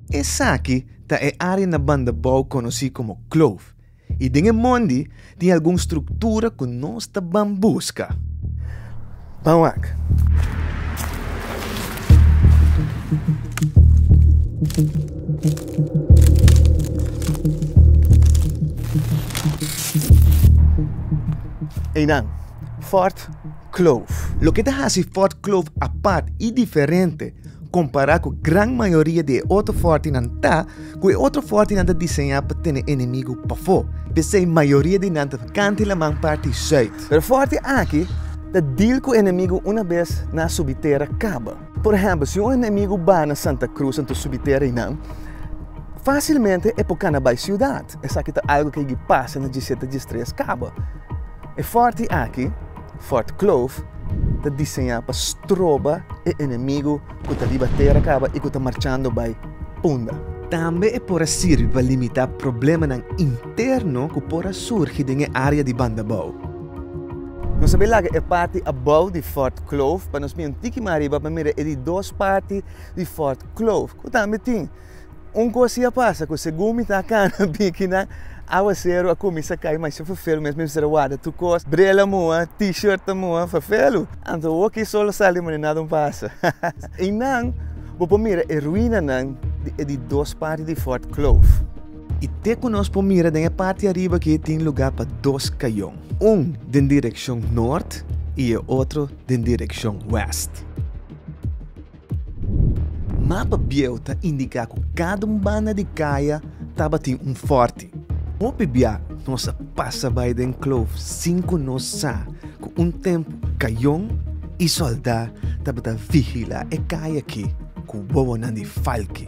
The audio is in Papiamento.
Esaki ta e área na Bandabou konosí komo Kloof i den e mondi tin algun struktura ku nos ta ban buska. Ban wak. Einan, Fort. Kloof. Loke ta hasi Fort Kloof apart i diferente kompará ku gran mayoria di e otro fòrtinan ta ku e otro fòrtinan ta diseñá pa tene enemigu pafó. P'esei mayoria di nan ta kanta e laman parti zùit. Pero fòrti aki ta deal ku enemigu una bes nan subi tera kaba. Por ehèmpel, si un enemigu bai na Santa Cruz anto subi tera i nan, fásilmente e por kana bai siudat. Esaki ta algu ke yigi pasa na dje siete, dje tres kaba. E fòrti aki, Fort Kloof, ta diseñá pa stroba e enemigu ku ta riba tera kaba i ku ta marchando bai punda. Tambe e por a sirbi pa limitá problemanan interno ku por a surgi den e área di banda bou. Nos a bin laga e parti abou di Fort Kloof pa nos mira un tiki mas riba pa mira e di dos parti di Fort Kloof ku tambe tin. Un cosa ya pasa cu segun mi ta cana bikinan aguacero a cuminsa cay masha fafelu mes mi a bisa warda tur cos, brela a muha, t-shirt a muha, fafelu. Anto awor cu e sol a sali manera nada un pasa. Eynan bo por mira e ruinanan di e di dos parti di Fort Kloof. Y te cu nos por mira den e parti ariba aki tin lugar pa dos cayon, un den direccion noord y e otro den direccion west. Mapa bieu ta indiká ku kada un banda di kaya tabatin un fòrti. Hopi bia nos a pasa bai den kloof sin ku nos sa ku un tempu kayon i sòldá tabata vigilá e kaya akí ku wowonan di falki.